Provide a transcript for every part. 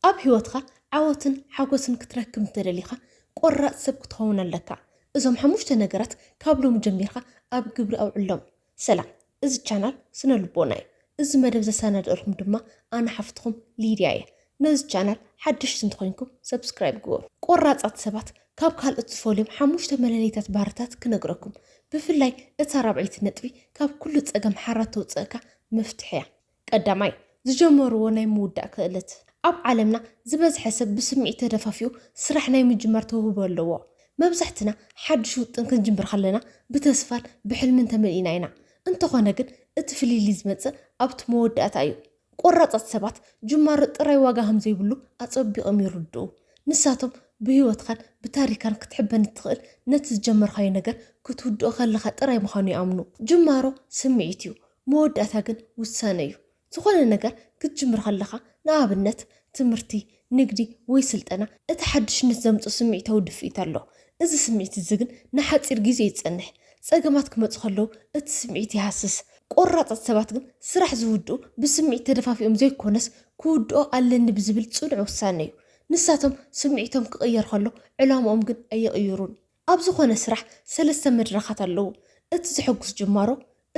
ኣብ ህይወትካ ዓወትን ሓጎስን ክትረክብ እንተደሊካ ቆራጽ ሰብ ክትኸውን ኣለካ እዞም ሓሙሽተ ነገራት ካብ ሎሚ ጀሚርካ ኣብ ግብሪ ኣውዕሎም። ሰላም እዚ ቻናል ስነ ልቦና እዩ እዚ መደብ ዘሰናድእልኩም ድማ ኣነ ሓፍትኩም ሊድያ እየ ነዚ ቻናል ሓደሽቲ እንተኮይንኩም subscribe ግበሩ። ቆራጻት ሰባት ካብ ካልኦት ዝፈልዮም ሓሙሽተ መለለይታት ባህርታት ክነግረኩም ብፍላይ እታ ራብዐይቲ ነጥቢ ካብ ኩሉ ጸገም ሓራ ተውጽእካ መፍትሕ እያ ቀዳማይ፣ ዝጀመርዎ ናይ ምውዳእ ክእለት። ኣብ ዓለምና ዝበዝሐ ሰብ ብስምዒት ተደፋፊኡ ስራሕ ናይ ምጅማር ተውህቦ ኣለዎ። መብዛሕትና ሓድሽ ውጥን ክንጅምር ከለና ብተስፋን ብሕልምን ተመሊእና ኢና። እንተኾነ ግን እቲ ፍልልይ ዝመጽእ ኣብቲ መወዳእታ እዩ። ቆራጻት ሰባት ጅማሮ ጥራይ ዋጋ ከም ዘይብሉ ኣጸቢቕም ይርድኡ። ንሳቶም ብህይወትካን ብታሪካን ክትሕበን እትኽእል ነቲ ዝጀመርካዮ ነገር ክትውድኦ ከለኻ ጥራይ ምዃኑ ይኣምኑ። ጅማሮ ስምዒት እዩ። መወዳእታ ግን ውሳነ እዩ። ዝኾነ ነገር ክትጅምር ከለኻ፣ ንኣብነት ትምህርቲ፣ ንግዲ ወይ ስልጠና፣ እቲ ሓድሽነት ዘምጽኦ ስምዒታዊ ድፍኢት ኣሎ። እዚ ስምዒት እዚ ግን ንሓጺር ግዜ እዩ ዝጸንሕ። ጸገማት ክመጹ ከለዉ እቲ ስምዒት ይሃስስ። ቆራጻት ሰባት ግን ስራሕ ዝውድኡ ብስምዒት ተደፋፊኦም ዘይኮነስ ክውድኦ ኣለኒ ብዝብል ጽኑዕ ውሳነ እዩ። ንሳቶም ስምዒቶም ክቕየር ከሎ ዕላምኦም ግን ኣይቕይሩን። ኣብ ዝኾነ ስራሕ ሰለስተ መድረኻት ኣለዉ፣ እቲ ዘሐጉስ ጅማሮ፣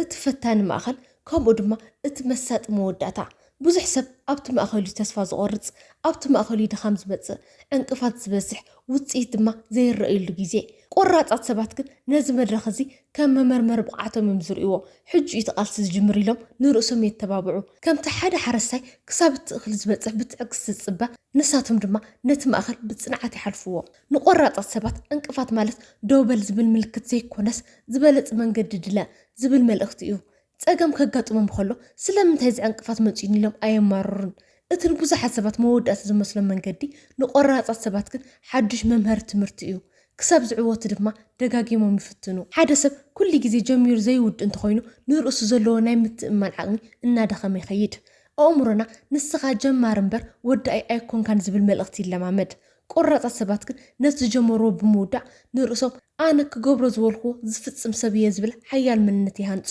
እቲ ፈታኒ ማእከል፣ ከምኡ ድማ እቲ መሳጢ መወዳእታ። ብዙሕ ሰብ ኣብቲ ማእከል'ዩ ተስፋ ዝቖርጽ፣ ኣብቲ ማእከል'ዩ ድኻም ዝመጽእ፣ ዕንቅፋት ዝበዝሕ፣ ውጽኢት ድማ ዘይረኣየሉ ግዜ። ቆራጻት ሰባት ግን ነዚ መድረኽ እዚ ከም መመርመሪ ብቕዓቶም'ዮም ዝርእይዎ። ሕጂ'ዩ እቲ ቃልሲ ዝጅምር ኢሎም ንርእሶም የተባብዑ። ከምቲ ሓደ ሓረስታይ ክሳብ እቲ እኽሊ ዝበጽሕ ብትዕግስቲ ዝጽበ፣ ንሳቶም ድማ ነቲ ማእከል ብጽንዓት ይሓልፍዎ። ንቆራፃት ሰባት ዕንቅፋት ማለት ደው በል ዝብል ምልክት ዘይኮነስ ዝበለፅ መንገዲ ድለ ዝብል መልእኽቲ እዩ። ፀገም ከጋጥሞም ከሎ ስለምንታይ እዚ ዕንቅፋት መፂኡኒ ኢሎም ኣየማርሩን። እቲ ንብዙሓት ሰባት መወዳእታ ዝመስሎም መንገዲ ንቆራፃት ሰባት ግን ሓዱሽ መምሀሪ ትምህርቲ እዩ። ክሳብ ዝዕወቱ ድማ ደጋጊሞም ይፍትኑ። ሓደ ሰብ ኩሉ ግዜ ጀሚሩ ዘይውድእ እንተኾይኑ ንርእሱ ዘለዎ ናይ ምትእምማን ዓቕሚ እናደኸመ ይኸይድ። ኣእምሮና ንስኻ ጀማሪ እምበር ወዳኢ ኣይኮንካን ዝብል መልእኽቲ ይለማመድ። ቆራፃት ሰባት ግን ነቲ ዝጀመርዎ ብምውዳእ ንርእሶም ኣነ ክገብሮ ዝበልክዎ ዝፍፅም ሰብ እየ ዝብል ሓያል መንነት ይሃንፁ።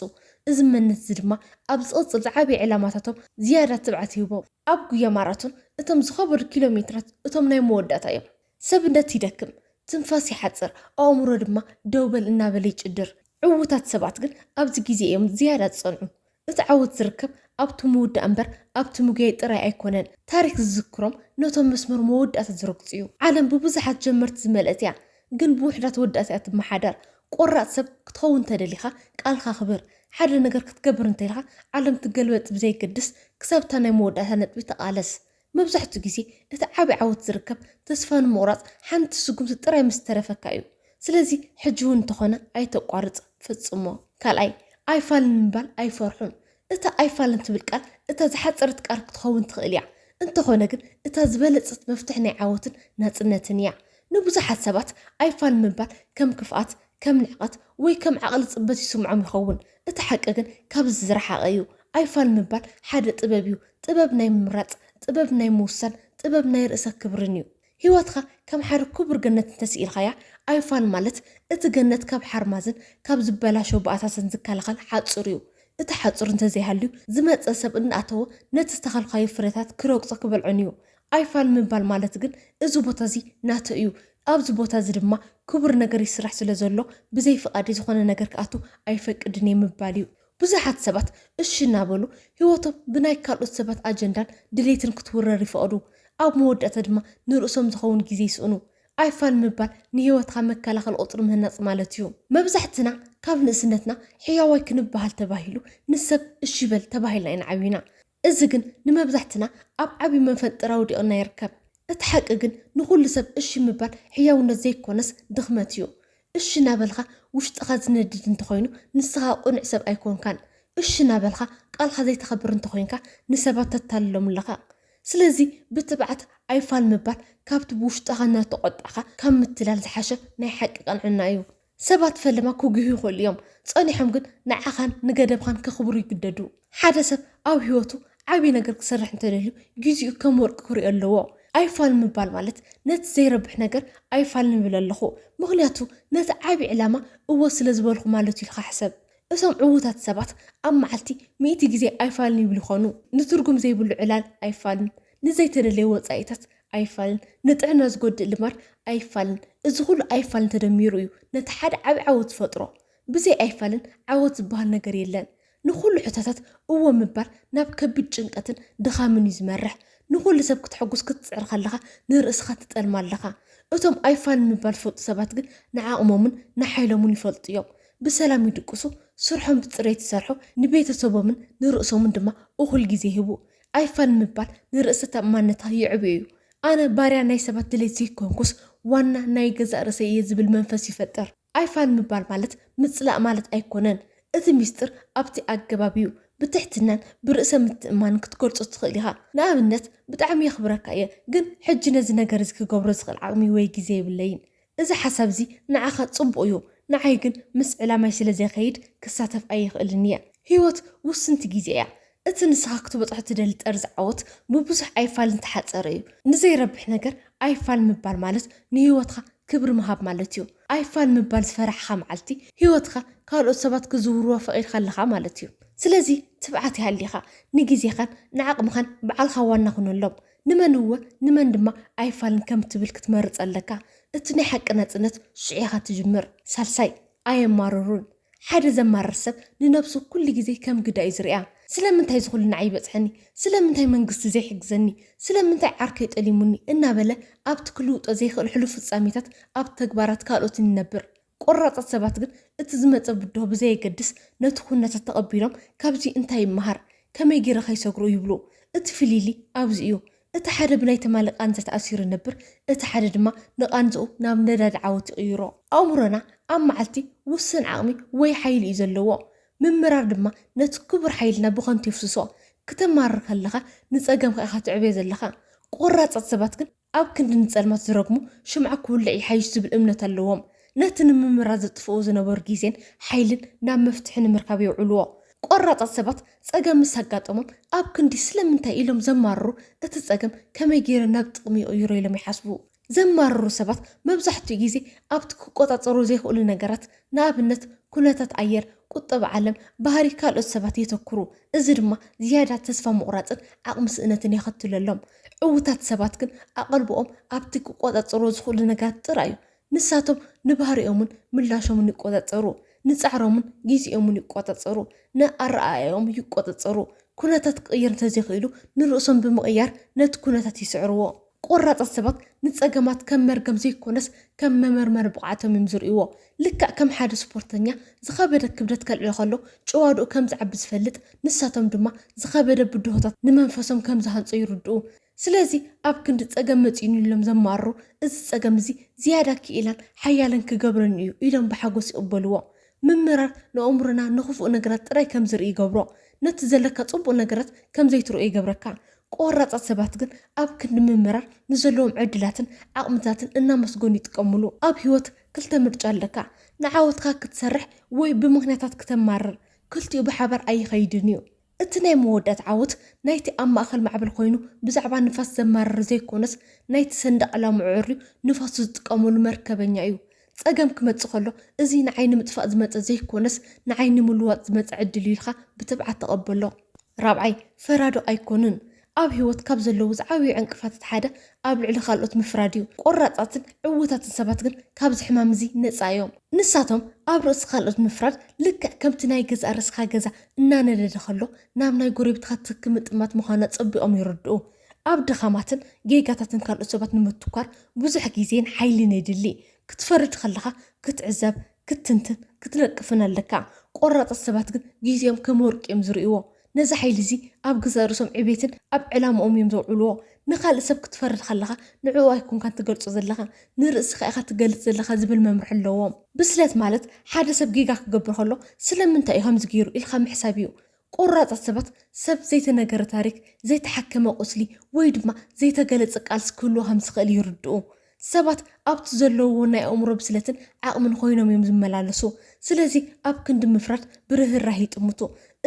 እዚ መንነት እዚ ድማ ኣብ ዝቕፅል ዝዓበየ ዕላማታቶም ዝያዳ ትብዓት ይህቦም። ኣብ ጉያ ማራቶን እቶም ዝኸበዱ ኪሎ ሜትራት እቶም ናይ መወዳእታ እዮም። ሰብነት ይደክም፣ ትንፋስ ይሓፅር፣ ኣእምሮ ድማ ደው በል እናበለ ይጭድር። ዕዉታት ሰባት ግን ኣብዚ ግዜ እዮም ዝያዳ ዝፀንዑ። እቲ ዓወት ዝርከብ ኣብቲ ምውዳእ እምበር ኣብቲ ምጉያይ ጥራይ ኣይኮነን። ታሪኽ ዝዝክሮም ነቶም መስመር መወዳእታ ዝረግጹ'ዩ። ዓለም ብብዙሓት ጀመርቲ ዝመልአት'ያ፣ ግን ብውሑዳት ወዳእቲ'ያ ትመሓደር። ቆራጽ ሰብ ክትኸውን እንተደሊኻ ቃልካ ኣኽብር። ሓደ ነገር ክትገብር እንተኢልካ ዓለም ትገልበጥ ብዘየገድስ ክሳብ'ታ ናይ መወዳእታ ነጥቢ ተቓለስ። መብዛሕትኡ ግዜ እቲ ዓቢ ዓወት ዝርከብ ተስፋ ንምቑራጽ ሓንቲ ስጉምቲ ጥራይ ምስ ዝተረፈካ እዩ። ስለዚ ሕጂ እውን እንተኾነ ኣይተቋርጽ፣ ፈጽሞ። ካልኣይ፣ ኣይፋልን ምባል ኣይፈርሑን። እታ ኣይፋልን ትብል ቃል እታ ዝሓጸረት ቃል ክትኸውን ትኽእል እያ፣ እንተኾነ ግን እታ ዝበለጸት መፍትሕ ናይ ዓወትን ናጽነትን እያ። ንብዙሓት ሰባት ኣይፋል ምባል ከም ክፍኣት፣ ከም ንዕቀት ወይ ከም ዓቕሊ ጽበት ይስምዖም ይኸውን። እቲ ሓቂ ግን ካብዚ ዝረሓቐ እዩ። ኣይፋል ምባል ሓደ ጥበብ እዩ፣ ጥበብ ናይ ምምራጽ፣ ጥበብ ናይ ምውሳን፣ ጥበብ ናይ ርእሰ ክብርን እዩ። ህይወትካ ከም ሓደ ክቡር ገነት እንተስኢልካያ፣ ኣይፋል ማለት እቲ ገነት ካብ ሓርማዝን ካብ ዝበላሸው ባእታትን ዝከላኸል ሓጹር እዩ። እቲ ሓጹር እንተዘይሃልዩ፣ ዝመጸ ሰብ እናኣተወ ነቲ ዝተኸልካዮ ፍረታት ክረግጾ ክበልዖን እዩ። ኣይፋል ምባል ማለት ግን እዚ ቦታዚ ናተይ እዩ፣ ኣብዚ ቦታ እዚ ድማ ክቡር ነገር ይስራሕ ስለ ዘሎ ብዘይ ፍቓደይ ዝኾነ ነገር ክኣቱ ኣይፈቅድን እየ ምባል እዩ። ብዙሓት ሰባት እሺ እናበሉ ህይወቶም ብናይ ካልኦት ሰባት ኣጀንዳን ድሌትን ክትውረር ይፈቕዱ። ኣብ መወዳእታ ድማ ንርእሶም ዝኸውን ግዜ ይስእኑ። ኣይፋል ምባል ንህይወትካ መከላኸሊ ቁጽሪ ምህናጽ ማለት እዩ። መብዛሕትና ካብ ንእስነትና ሕያዋይ ክንበሃል ተባሂሉ ንሰብ እሺ በል ተባሂልና ኢና ዓቢና። እዚ ግን ንመብዛሕትና ኣብ ዓቢ መፈንጥር ኣውዲቕና ይርከብ። እቲ ሓቂ ግን ንኹሉ ሰብ እሺ ምባል ሕያውነት ዘይኮነስ ድኽመት እዩ። እሺ ናበልካ ውሽጥኻ ዝነድድ እንተኾይኑ ንስኻ ቁኑዕ ሰብ ኣይኮንካን። እሺ ናበልካ ቃልካ ዘይተኽብር እንተኾይንካ ንሰባት ተታልሎም ኣለኻ። ስለዚ ብትብዓት ኣይፋል ምባል ካብቲ ብውሽጥኻ እናተቖጣዕካ ካብ ምትላል ዝሓሸ ናይ ሓቂ ቅንዕና እዩ። ሰባት ፈለማ ክጒሁ ይኽእሉ እዮም፣ ጸኒሖም ግን ንዓኻን ንገደብኻን ከኽብሩ ይግደዱ። ሓደ ሰብ ኣብ ህይወቱ ዓቢ ነገር ክሰርሕ እንተ ደልዩ፣ ግዜኡ ከም ወርቂ ክርእዮ ኣለዎ። ኣይፋል ምባል ማለት ነቲ ዘይረብሕ ነገር ኣይፋል ንብል ኣለኹ፣ ምኽንያቱ ነቲ ዓቢ ዕላማ እወ ስለ ዝበልኩ ማለት'ዩ ኢልካ ሕሰብ። እቶም ዕዉታት ሰባት ኣብ መዓልቲ ሚእቲ ግዜ ኣይፋልን ይብሉ ይዀኑ። ንትርጉም ዘይብሉ ዕላል ኣይፋልን፣ ንዘይተደልየ ወጻኢታት ኣይፋልን፣ ንጥዕና ዝጎድእ ልማድ ኣይፋልን፣ እዚ ኹሉ ኣይፋልን ተደሚሩ እዩ ነቲ ሓደ ዓቢ ዓወት ዝፈጥሮ። ብዘይ ኣይፋልን ዓወት ዝበሃል ነገር የለን። ንኹሉ ሕቶታት እወ ምባል ናብ ከቢድ ጭንቀትን ድኻምን እዩ ዝመርሕ። ንኹሉ ሰብ ክተሐጉስ ክትጽዕር ከለኻ ንርእስኻ ትጠልማ ኣለኻ። እቶም ኣይፋልን ምባል ዝፈልጡ ሰባት ግን ንዓቕሞምን ንሓይሎምን ይፈልጡ እዮም። ብሰላም ይድቅሱ፣ ስርሖም ብጽሬት ይሰርሑ፣ ንቤተሰቦምን ንርእሶምን ድማ እኹል ግዜ ይህቡ። ኣይፋል ምባል ንርእሰ ተኣማንነታ የዕብዮ እዩ። ኣነ ባርያ ናይ ሰባት ድሌት ዘይኮንኩስ ዋና ናይ ገዛእ ርእሰይ እየ ዝብል መንፈስ ይፈጥር። ኣይፋል ምባል ማለት ምጽላእ ማለት ኣይኮነን። እቲ ሚስጥር ኣብቲ ኣገባብ እዩ። ብትሕትናን ብርእሰ ምትእምማንን ክትገልጾ ትኽእል ኢኻ። ንኣብነት፣ ብጣዕሚ የኽብረካ እየ፣ ግን ሕጂ ነዚ ነገር እዚ ክገብሮ ዝኽእል ዓቕሚ ወይ ግዜ የብለይን። እዚ ሓሳብ እዚ ንዓኻ ጽቡቕ እዩ፣ ንዓይ ግን ምስ ዕላማይ ስለ ዘይከይድ ክሳተፍ ኣይኽእልን እየ። ህይወት ውስንቲ ግዜ እያ። እቲ ንስኻ ክትበጽሖ እትደሊ ጠርዚ ዓወት ብብዙሕ ኣይፋል ዝተሓጸረ እዩ። ንዘይረብሕ ነገር ኣይፋል ምባል ማለት ንህይወትካ ክብሪ ምሃብ ማለት እዩ። ኣይፋል ምባል ዝፈራሕኻ መዓልቲ ህይወትካ ካልኦት ሰባት ክዝውርዋ ፈቒድካ ኣለኻ ማለት እዩ። ስለዚ ትብዓት ይሃሊኻ፣ ንግዜኻን ንዓቕምኻን ባዕልኻ ዋና ኩነሎም። ንመን እወ ንመን ድማ ኣይፋልን ከም ትብል ክትመርጽ ኣለካ። እቲ ናይ ሓቂ ናጽነት ሽዑ ኢኻ ትጅምር። ሳልሳይ፣ ኣየማርሩን። ሓደ ዘማርር ሰብ ንነብሱ ኩሉ ግዜ ከም ግዳይ እዩ ዝርእያ። ስለምንታይ እዚ ኩሉ ንዓይ ይበጽሐኒ? ስለምንታይ መንግስቲ ዘይሕግዘኒ? ስለምንታይ ዓርከይ ጠሊሙኒ? እናበለ ኣብቲ ክልውጦ ዘይክእል ሕሉፍ ፍጻሜታት ኣብ ተግባራት ካልኦትን ይነብር። ቆራፃት ሰባት ግን እቲ ዝመፀ ብድሆ ብዘየገድስ ነቲ ኩነታት ተቐቢሎም ካብዚ እንታይ ይመሃር? ከመይ ገይረ ከይሰግሮ? ይብሉ። እቲ ፍሊሊ ኣብዚ እዩ። እቲ ሓደ ብናይ ትማሊ ቃንዛ ተኣሲሩ ይነብር፣ እቲ ሓደ ድማ ንቓንዝኡ ናብ ነዳዲ ዓወት ይቕይሮ። ኣእምሮና ኣብ መዓልቲ ውሱን ዓቕሚ ወይ ሓይሊ እዩ ዘለዎ። ምምራር ድማ ነቲ ክቡር ሓይልና ብኸንቱ የፍስሶ። ክተማርር ከለኻ ንፀገምካ ኢኻ ትዕበዮ ዘለኻ። ቆራፃት ሰባት ግን ኣብ ክንዲ ንጸልማት ዝረግሙ፣ ሽምዓ ክውልዕ ይሓይሽ ዝብል እምነት ኣለዎም። ነቲ ንምምራት ዘጥፍእዎ ዝነበሩ ግዜን ሓይልን ናብ መፍትሒ ንምርካብ የውዕልዎ። ቆራጻት ሰባት ጸገም ምስ ኣጋጠሞም፣ ኣብ ክንዲ ስለምንታይ ኢሎም ዘማርሩ፣ እቲ ጸገም ከመይ ገይረ ናብ ጥቕሚ ይቕይሮ ኢሎም ይሓስቡ። ዘማርሩ ሰባት መብዛሕትኡ ግዜ ኣብቲ ክቆጻጸሩ ዘይክእሉ ነገራት፣ ንኣብነት ኩነታት ኣየር፣ ቁጠባ ዓለም፣ ባህሪ ካልኦት ሰባት የተኩሩ። እዚ ድማ ዝያዳ ተስፋ ምቑራጽን ዓቕሚ ስእነትን የኸትለሎም። ዕዉታት ሰባት ግን ኣቐልቦኦም ኣብቲ ክቆጻጸርዎ ዝኽእሉ ነገራት ጥራይ እዩ። ንሳቶም ንባህሪኦምን ምላሾምን ይቆጻጸሩ፣ ንጻዕሮምን ግዜኦምን ይቆጻጸሩ፣ ንኣረኣእያኦም ይቆጻጸሩ፣ ኩነታት ክቕየር እንተዘይክኢሉ ንርእሶም ብምቕያር ነቲ ኩነታት ይስዕርዎ። ቆራጻት ሰባት ንጸገማት ከም መርገም ዘይኮነስ ከም መመርመሪ ብቕዓቶም እዮም ዝርእይዎ። ልክዕ ከም ሓደ ስፖርተኛ ዝኸበደ ክብደት ከልዕል ከሎ ጭዋድኡ ከም ዝዓቢ ዝፈልጥ፣ ንሳቶም ድማ ዝኸበደ ብድሆታት ንመንፈሶም ከም ዝሃንጾ ይርድኡ። ስለዚ ኣብ ክንዲ ጸገም መጺኡኒ ኢሎም ዘማርሩ፣ እዚ ጸገም እዚ ዝያዳ ክኢላን ሓያልን ክገብረኒ እዩ ኢሎም ብሓጎስ ይቕበልዎ። ምምራር ንኣእምሮና ንኽፉእ ነገራት ጥራይ ከም ዝርኢ ይገብሮ። ነቲ ዘለካ ጽቡቕ ነገራት ከም ዘይትርእዮ ይገብረካ። ቆራጻት ሰባት ግን ኣብ ክንዲ ምምራር ንዘለዎም ዕድላትን ዓቕምታትን እናመስገኑ ይጥቀምሉ። ኣብ ህይወት ክልተ ምርጫ ኣለካ ንዓወትካ ክትሰርሕ ወይ ብምኽንያታት ክተማርር ክልቲኡ ብሓባር ኣይኸይድን እዩ። እቲ ናይ መወዳእታ ዓወት ናይቲ ኣብ ማእኸል ማዕበል ኮይኑ ብዛዕባ ንፋስ ዘማርር ዘይኮነስ ናይቲ ሰንደቕ ዕላምኡ ኣዐርዩ ንፋሱ ዝጥቀመሉ መርከበኛ እዩ። ፀገም ክመፅእ ከሎ እዙይ ንዓይ ንምጥፋእ ዝመፀ ዘይኮነስ ንዓይ ንምልዋጥ ዝመፀ ዕድል እዩ ኢልካ ብትብዓት ተቐበሎ። ራብዓይ ፈራዶ ኣይኮኑን ኣብ ህይወት ካብ ዘለዉ ዝዓብዩ ዕንቅፋታት ሓደ ኣብ ልዕሊ ካልኦት ምፍራድ እዩ። ቆራጻትን ዕዉታትን ሰባት ግን ካብዚ ሕማም እዚ ነጻ እዮም። ንሳቶም ኣብ ርእሲ ካልኦት ምፍራድ ልክዕ ከምቲ ናይ ገዛእ ርእስኻ ገዛ እናነደደ ከሎ ናብ ናይ ጎረቤትኻ ትኪ ምጥማት ምዃኑ ኣጸቢቖም ይርድኡ። ኣብ ድኻማትን ጌጋታትን ካልኦት ሰባት ንምትኳር ብዙሕ ግዜን ሓይልን የድሊ። ክትፈርድ ከለኻ ክትዕዘብ፣ ክትትንትን ክትነቅፍን ኣለካ። ቆራጻት ሰባት ግን ግዜኦም ከም ወርቂ እዮም ዝርእይዎ። ነዚ ሓይሊ'ዚ ኣብ ገዛእ ርእሶም ዕቤትን ኣብ ዕላማኦም እዮም ዘውዕልዎ። ንኻልእ ሰብ ክትፈርድ ከለኻ ንዕኡ ኣይኮንካን ትገልጾ ዘለኻ፣ ንርእስኻ ኢኻ ትገልጽ ዘለኻ ዝብል መምርሒ ኣለዎም። ብስለት ማለት ሓደ ሰብ ጌጋ ክገብር ከሎ ስለምንታይ እዩ ከምዚ ገይሩ ኢልካ ምሕሳብ እዩ። ቆራጻት ሰባት ሰብ ዘይተነገረ ታሪኽ፣ ዘይተሓከመ ቁስሊ ወይ ድማ ዘይተገለጸ ቃልሲ ክህልዎ ከም ዝኽእል ይርድኡ። ሰባት ኣብቲ ዘለውዎ ናይ ኣእምሮ ብስለትን ዓቕምን ኾይኖም እዮም ዝመላለሱ። ስለዚ ኣብ ክንዲ ምፍራድ ብርህራሄ ይጥምቱ።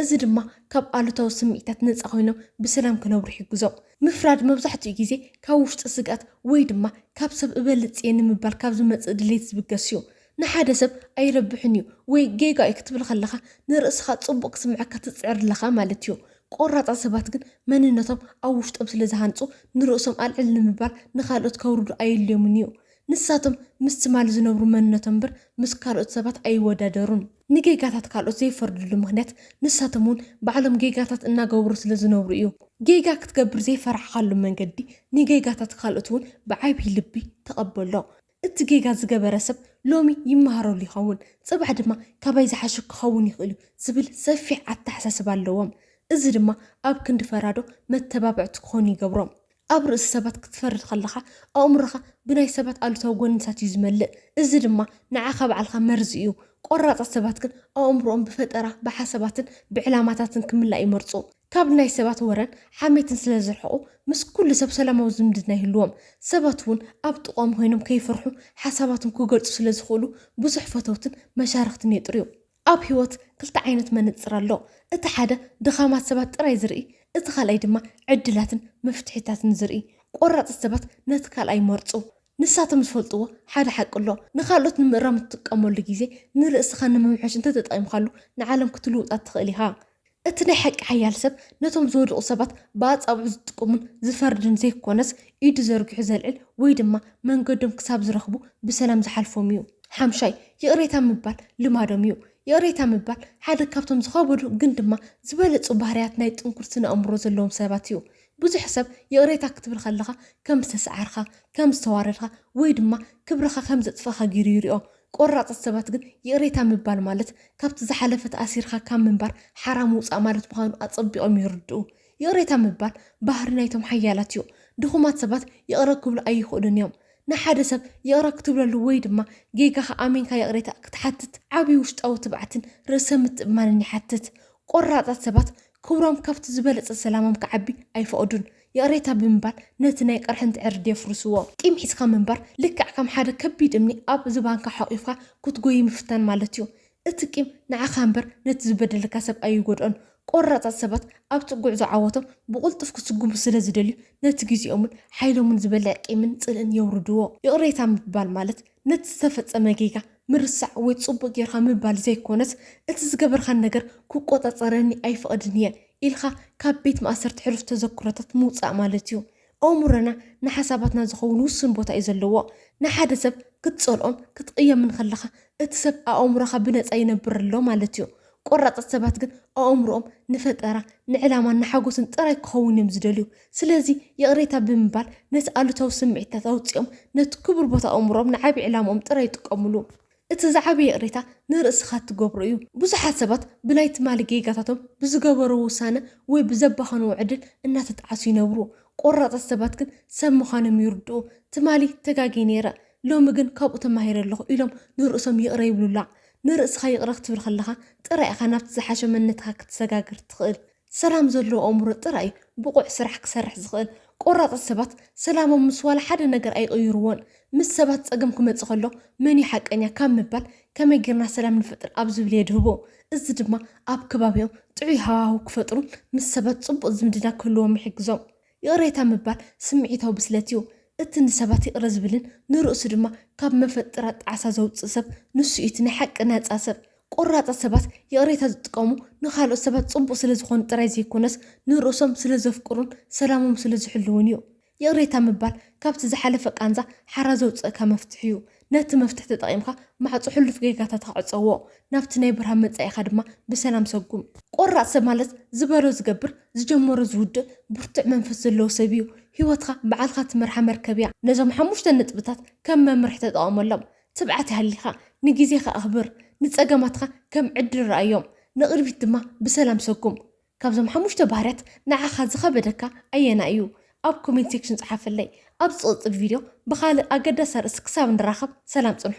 እዚ ድማ ካብ ኣሉታዊ ስምዒታት ነጻ ኾይኖም ብሰላም ክነብሩ ይሕግዞም። ምፍራድ መብዛሕትኡ ግዜ ካብ ውሽጢ ስግኣት ወይ ድማ ካብ ሰብ እበልጽ'የ ንምባል ካብ ዝመጽእ ድሌት ዝብገስ እዩ። ንሓደ ሰብ ኣይረብሕን እዩ ወይ ጌጋ እዩ ክትብል ከለኻ ንርእስኻ ጽቡቕ ክስምዓካ ትጽዕር ኣለኻ ማለት እዩ። ቆራጻት ሰባት ግን መንነቶም ኣብ ውሽጦም ስለ ዝሃንጹ ንርእሶም ኣልዕል ንምባል ንኻልኦት ከውርዱ ኣየድልዮምን እዩ። ንሳቶም ምስ ትማል ዝነብሩ መንነቶም እምበር ምስ ካልኦት ሰባት ኣይወዳደሩን። ንጌጋታት ካልኦት ዘይፈርድሉ ምኽንያት ንሳቶም እውን ባዕሎም ጌጋታት እናገበሩ ስለ ዝነብሩ እዩ። ጌጋ ክትገብር ዘይፈራሕካሉ መንገዲ ንጌጋታት ካልኦት እውን ብዓብዪ ልቢ ተቐበሎ። እቲ ጌጋ ዝገበረ ሰብ ሎሚ ይመሃረሉ ይኸውን፣ ጽባሕ ድማ ካባይ ዝሓሸ ክኸውን ይኽእል እዩ ዝብል ሰፊሕ ኣተሓሳስባ ኣለዎም። እዚ ድማ ኣብ ክንዲ ፈራዶ መተባብዕቲ ክኾኑ ይገብሮም። ኣብ ርእሲ ሰባት ክትፈርድ ከለኻ ኣእምሮኻ ብናይ ሰባት ኣሉታዊ ጎንታት እዩ ዝመልእ። እዚ ድማ ንዓኻ ባዕልኻ መርዚ እዩ። ቆራጻት ሰባት ግን ኣእምሮኦም ብፈጠራ፣ ብሓሳባትን ብዕላማታትን ክምላእ ይመርጹ። ካብ ናይ ሰባት ወረን ሓሜትን ስለ ዝርሕቑ ምስ ኩሉ ሰብ ሰላማዊ ዝምድና ይህልዎም። ሰባት እውን ኣብ ጥቕኦም ኾይኖም ከይፈርሑ ሓሳባቶም ክገልፁ ስለ ዝኽእሉ ብዙሕ ፈተውትን መሻርኽትን የጥርዩ። ኣብ ህይወት ክልተ ዓይነት መነፅር ኣሎ። እቲ ሓደ ድኻማት ሰባት ጥራይ ዝርኢ፣ እቲ ካልኣይ ድማ ዕድላትን መፍትሒታትን ዝርኢ። ቆራፅት ሰባት ነቲ ካልኣይ ይመርፁ። ንሳቶም ዝፈልጥዎ ሓደ ሓቂ ኣሎ፣ ንኻልኦት ንምእራም እትጥቀመሉ ግዜ ንርእስኻ ንምምሕያሽ እንተተጠቒምካሉ ንዓለም ክትልውጣ ትኽእል ኢኻ። እቲ ናይ ሓቂ ሓያል ሰብ ነቶም ዝወደቑ ሰባት ብኣጻብዑ ዝጥቁምን ዝፈርድን ዘይኮነስ፣ ኢዱ ዘርጊሑ ዘልዕል ወይ ድማ መንገዶም ክሳብ ዝረኽቡ ብሰላም ዝሓልፎም እዩ። ሓምሻይ፣ ይቕሬታ ምባል ልማዶም እዩ። ይቕሬታ ምባል ሓደ ካብቶም ዝኸበዱ ግን ድማ ዝበለጹ ባህርያት ናይ ጥንኩር ስነ-ኣእምሮ ዘለዎም ሰባት እዩ። ብዙሕ ሰብ ይቕሬታ ክትብል ከለኻ ከም ዝተሰዓርካ፣ ከም ዝተዋረድካ ወይ ድማ ክብርኻ ከም ዘጥፋእካ ገይሩ ይሪኦ። ቆራጻት ሰባት ግን ይቕሬታ ምባል ማለት ካብቲ ዝሓለፈ ተኣሲርካ ካብ ምንባር ሓራ ምውጻእ ማለት ምዃኑ ኣጸቢቖም ይርድኡ። ይቕሬታ ምባል ባህሪ ናይቶም ሓያላት እዩ። ድኹማት ሰባት ይቕረ ክብሉ ኣይኽእሉን እዮም። ንሓደ ሰብ ይቕረ ክትብለሉ ወይ ድማ ጌጋኻ ኣሚንካ ይቕሬታ ክትሓትት ዓቢ ውሽጣዊ ትብዓትን ርእሰ ምትእምማንን ይሓትት። ቆራጻት ሰባት ክብሮም ካብቲ ዝበለጸ ሰላሞም ክዓቢ ኣይፈቕዱን። ይቕሬታ ብምባል ነቲ ናይ ቅርሕንቲ ዕርዲ የፍርስዎ። ቂም ሒዝካ ምንባር ልክዕ ከም ሓደ ከቢድ እምኒ ኣብ ዝባንካ ሖቒፍካ ክትጎዪ ምፍታን ማለት'ዩ። እቲ ቂም ንዓኻ እምበር ነቲ ዝበደለካ ሰብ ኣይጎድኦን። ቆራጻት ሰባት ኣብቲ ጉዕዞ ዓወቶም ብቕልጡፍ ክስጉሙ ስለ ዝደልዩ ነቲ ግዜኦምን ሓይሎምን ዝበልዕ ቂምን ጽልእን የውርድዎ። ይቕሬታ ምባል ማለት ነቲ ዝተፈጸመ ጌጋ ምርሳዕ ወይ ጽቡቕ ጌርካ ምባል ዘይኮነስ፣ እቲ ዝገበርካኒ ነገር ክቆጻጸረኒ ኣይፈቕድን እየ ኢልካ ካብ ቤት ማእሰርቲ ሕሉፍ ተዘክሮታት ምውጻእ ማለት እዩ። ኣእምሮና ንሓሳባትና ዝኸውን ውሱን ቦታ እዩ ዘለዎ። ንሓደ ሰብ ክትጸልኦን ክትቕየምን ከለኻ፣ እቲ ሰብ ኣእምሮኻ ብነጻ ይነብር ኣሎ ማለት እዩ። ቆራፃት ሰባት ግን ኣእምሮኦም ንፈጠራ፣ ንዕላማን ንሓጎስን ጥራይ ክኸውን እዮም ዝደልዩ። ስለዚ ይቕሬታ ብምባል ነቲ ኣሉታዊ ስምዒትታት ኣውጺኦም ነቲ ክቡር ቦታ ኣእምሮኦም ንዓቢ ዕላምኦም ጥራይ ይጥቀምሉ። እቲ ዝዓበየ ይቕሬታ ንርእስኻ እትገብሮ እዩ። ብዙሓት ሰባት ብናይ ትማሊ ጌጋታቶም፣ ብዝገበርዎ ውሳነ ወይ ብዘባኸንዎ ዕድል እናተጠዓሱ ይነብሩ። ቆራፃት ሰባት ግን ሰብ ምዃኖም ይርድኡ። ትማሊ ተጋግየ ነይረ፣ ሎሚ ግን ካብኡ ተማሂረ ኣለኹ ኢሎም ንርእሶም ይቕረ ይብሉላ። ንርእስኻ ይቕረ ክትብል ከለኻ ጥራይ ኢኻ ናብቲ ዝሓሸ መንነትካ ክትሰጋገር ትኽእል። ሰላም ዘለዎ ኣእምሮ ጥራይ እዩ ብቑዕ ስራሕ ክሰርሕ ዝኽእል። ቆራጻት ሰባት ሰላሞም ምስ ዋላ ሓደ ነገር ኣይቕይሩዎን። ምስ ሰባት ጸገም ክመጽእ ከሎ መን እዩ ሓቀኛ ካብ ምባል ከመይ ጌርና ሰላም ንፈጥር ኣብ ዝብል የድህቡ። እዚ ድማ ኣብ ከባቢኦም ጥዑይ ሃዋህው ክፈጥሩን ምስ ሰባት ጽቡቕ ዝምድና ክህልዎም ይሕግዞም። ይቕሬታ ምባል ስምዒታዊ ብስለት እዩ። እቲ ንሰባት ይቕረ ዝብልን ንርእሱ ድማ ካብ መፈጥራት ጣዕሳ ዘውጽእ ሰብ ንሱ እዩ እቲ ናይ ሓቂ ናጻ ሰብ። ቈራጻት ሰባት ይቕሬታ ዝጥቀሙ ንኻልኦት ሰባት ጽቡቕ ስለ ዝዀኑ ጥራይ ዘይኰነስ ንርእሶም ስለ ዘፍቅሩን ሰላሞም ስለ ዝሕልዉን እዩ። ይቕሬታ ምባል ካብቲ ዝሓለፈ ቃንዛ ሓራ ዘውጽእካ መፍትሕ እዩ። ነቲ መፍትሕ ተጠቒምካ ማዕጾ ሕሉፍ ጌጋታትካ ዕጸዎ፣ ናብቲ ናይ ብርሃን መጻኢኻ ድማ ብሰላም ሰጉም። ቆራጽ ሰብ ማለት ዝበሎ ዝገብር፣ ዝጀመሮ ዝውድእ ብርቱዕ መንፈስ ዘለዎ ሰብ እዩ። ህይወትካ ባዕልካ ትመርሓ መርከብ እያ። ነዞም ሓሙሽተ ነጥብታት ከም መምርሒ ተጠቐመሎም። ትብዓት ይሃሊካ፣ ንግዜኻ ኣኽብር፣ ንጸገማትካ ከም ዕድል ረኣዮም፣ ንቕድሚት ድማ ብሰላም ሰጉም። ካብዞም ሓሙሽተ ባህርያት ንዓኻ ዝኸበደካ ኣየናይ እዩ? ኣብ ኮሜንት ሴክሽን ጽሓፈለይ። ኣብ ዝቕጽል ቪድዮ ብኻልእ ኣገዳሲ ኣርእስቲ ክሳብ ንራኸብ ሰላም ጽንሑ።